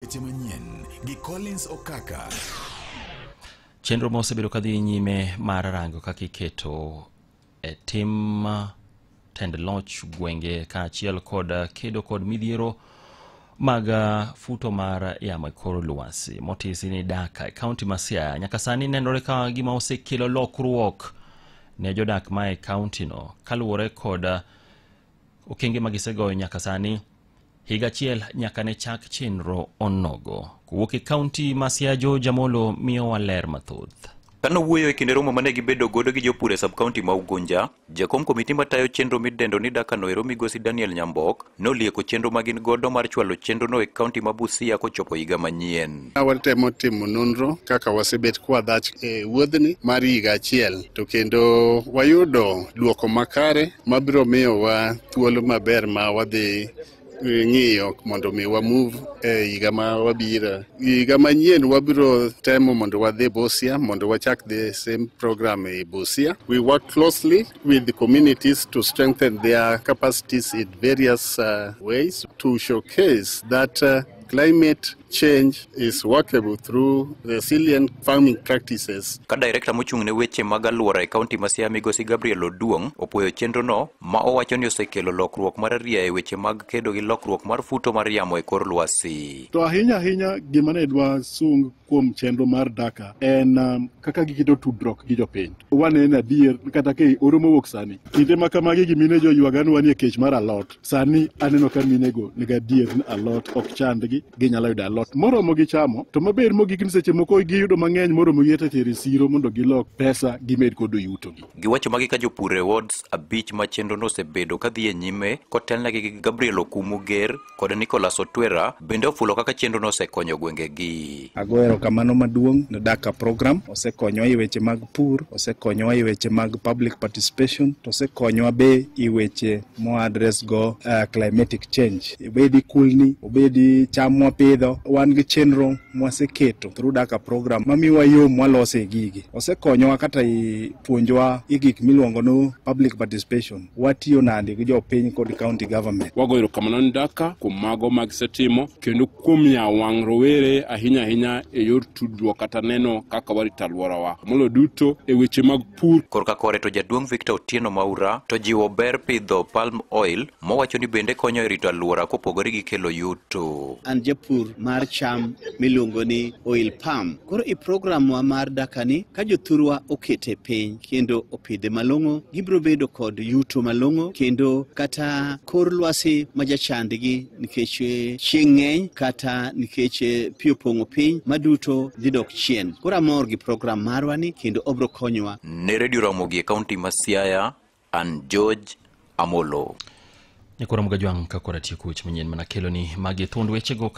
Weche manyien gi Collins Okaka. Chenro ma osebedo kadhi nyime mar rango kaka iketo e tim tend loch gwenge kaachiel kod kedo kod midhiero mag futo mar yamo e kor lwasi motisi ni Daka e kaunti ma Siaya nyaka sani nenore ka gima osekelo lokruok ne jodak ma e kauntino kaluwore kod okenge ma gisegoyo nyaka sani higa achiel nyaka ne chak chenro onogo kowuok e kaunti ma siajo jamolo miyowa ler mathoth Kano wuoyo e kinde romo mane gibedo godo gi jopur e sub-county ma Ugunja, jakom komiti matayo chenro midendo ni Daka Noero migosi Daniel Nyambok nolieko chenro ma gin godo mar chwalo chenrono e kaunti ma Busia kochopo higa manyien. Watemo timo nonro kaka wasebet kwa dhach e wuodhni mar higa achiel to kendo wayudo duoko makare mabiro miyowa thuolo maber ma wadhi ng'iyo mondo mi wa move e higa ma wabiro higa manyien wabiro temo mondo wadhi Busia mondo wachak the same program e Busia we work closely with the communities to strengthen their capacities in various uh, ways to showcase that uh, climate change is workable through resilient farming practices. Ka direkta mochung' ne weche mag alwora e kaunti ma Siaya migosi Gabriel Oduong' opwoyo chenrono ma owacho ni osekelo lokruok mar aria e weche mag kedo gi lokruok mar futo mar yamo e kor lwasi. To ahinya ahinya gima ne dwa sung kuom chenro mar Daka en um, kaka giketo tudruok gi jopiny. Wane en adier kata ke oro mowuok sani. Kinde ma kamagi gimine joywaganwa ni e kech mar alot. sani aneno ka minego nigi adier ni alot ok chandgi ginyalo yudo alot moromo gi chamo to maber mogik ni seche moko giyudo mang'eny moromo gi teteri siro mondo gilok pesa gimed kodo yutogi giwacho magi ka jopur e wards abich ma chenrono osebedo ka dhi e nyime kotelnegi gi gabriel okumu ger kod nicolas otwera bende ofulo kaka chenrono osekonyo gwengegi Agoyo erokamano maduong' ne Daka program. Osekonyowa e weche mag pur, osekonyowa e weche mag public participation, to osekonyowa be e weche mo address go uh, climatic change. Obedi kulni, obedi cham mwapidho, wan gi chenro mwaseketo through Daka program mamiwa yo mwalose gigi. Osekonyowa kata i puonjowa i gik miluongo ni public participation. Watiyo nade gi jopiny kod county government. Wagoyo erokamano ne Daka kuom mago ma gisetimo kendo kuom yawo wang' rowere ahinya ahinya e yor tudruok kata neno kaka warito alworawa moloyo duto e weche mag pur. Korka kore to jaduong' Victor Otieno Maura to jiwo ber pidho palm oil mowacho ni bende konyo e rito alwora kopogore gi kelo yuto. An japur mar cham miluongo ni oil palm. Koro i programwa mar dakani ka jothurwa okete piny kendo opidhe malong'o gibiro bedo kod yuto malong'o kendo kata kor lwasi ma jachandgi nikech eh, chieng' ng'eny kata nikech eh, pi opong'o piny maduto dhi dok chien. Koro amor gi program marwa ni kendo obro konyowa. Ne redio Ramogi e kaunti ma Siaya, an George Amolo. Nyakoro Mgajwang' ka kora tieko weche manyien mana keloni magi thuond wechego ka